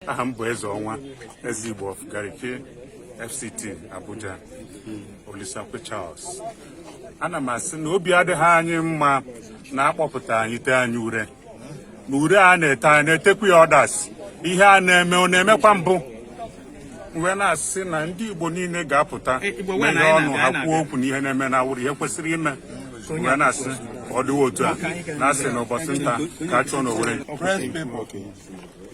aha m bụ eze ọnwa eze igbo of garki fct abuja olisakwe charles ana m asị na obi adịghị anyị mma na a kpọpụta anyị tee anyị ure na ure a na-ete anyị na-etekwa ya others ihe a na-eme ọ na-emekwa mbụ m wee na-asị na ndị igbo niile ga-apụta meghe ọnụ ha kwuo okwu na ihe na-eme na awụrụ ihe kwesịrị ime m wee na-asị ọ dịwa otu a na-asị na ụbọchị nta ka a chụọ n'owere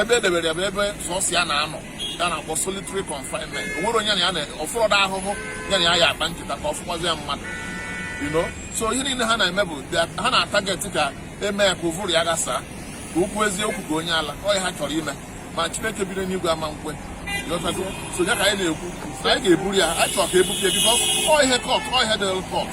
ebe edebere ya bụ ebe sọsọ ya na-anọ ihe a na-akpọ solitary confinement o nwerọ onye na ya nọ ọ fụrọdị ahụhụ ya na ya ya-akpa nkata ka ọ fọkwazịa mmadụ you know so ihe niile ha na-eme bụ ha na-atageti ka e mee ya ka ụvụrụ ya ghasaa ka o kwuwezi okwu ka onye ala ọ ya ha chọrọ ime ma chineke biri n'igwe ama nkwe so ya ka anyị na-ekwu na anyị ga-eburu ya anyị chọrọ ka e bupụ ya because ọ ihe court ọ ihe dịrị court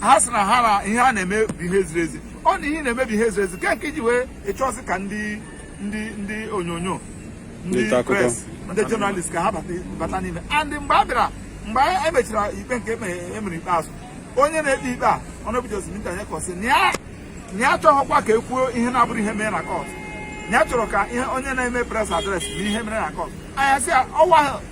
ha sị na ha na ihe a na-eme bụ ihe ziri ezi ọ na ihe na-eme bụ ihe ziri ezi nke nke ji wee ịchọzi ka ndị ndị ndị onyonyo ndị press ndị journalist ka ha bata n'ime and mgbe a bịara mgbe e mechara ikpe nke emere e ikpeazụ onye na-ekpe ikpe a honourable justice binta nyako sị na ya achọghịkwa ka e kwuo ihe na-abụrọ ihe mere na court ya achọrọ ka ihe onye na-eme press address na ihe mere na court anyị asị ya ọwa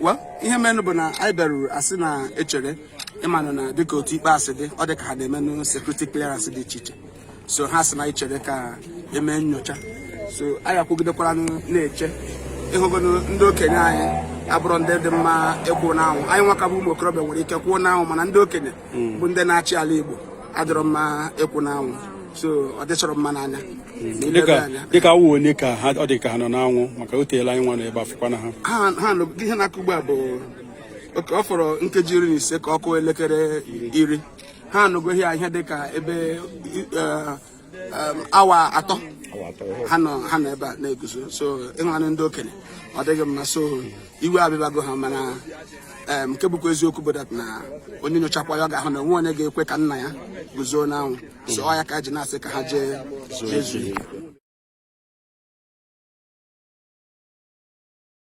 well ihe menụ bụ na anyị bịaruru a sị na anyị chere ịmanụ na dịka otu ikpe a si dị ọ dị ka ha na-emenụ security clearance dị iche iche so ha sị na anyị chere ka e mee nyocha so anyị akwụgidekwara na-eche ịhụgonụ ndị okenye anyị abụrọ ndị dị mma ịkwụ n'anwụ anyị nwa ka bụ ụmụ okorobịa nwere ike kwụọ n'anwụ mana ndị okenye hmm. bụ ndị na-achị ala Igbo adịrọ mma ịkwụ n'anwụ so ọ dịchọrọ mma n'anya hmm. dịka awụ onye ka ha ọ dị ka ha nọ n'anwụ maka o teela anyị nwa nọ ebe a fụkwanụ ha ha ihe na-akụ ugbu a bụ oke ọ fọrọ nkeji iri na ise ka ọ kụọ elekere iri ha anọgo ihe dịka ebe eh, um, awa atọ ha nọ ha nọ ebe a na-eguzo so ị hụnanụ ndị okenye ọ dịghị mma so iwe abịbago ha mana um, nke bụkwa eziokwu bụ that na onye nyochakwa ya ọ ga-ahụ na o nweghị onye ga-ekwe ka nna ya guzo n'anwụ so ọ ya ka e ji na-asị ka ha jee jee zuo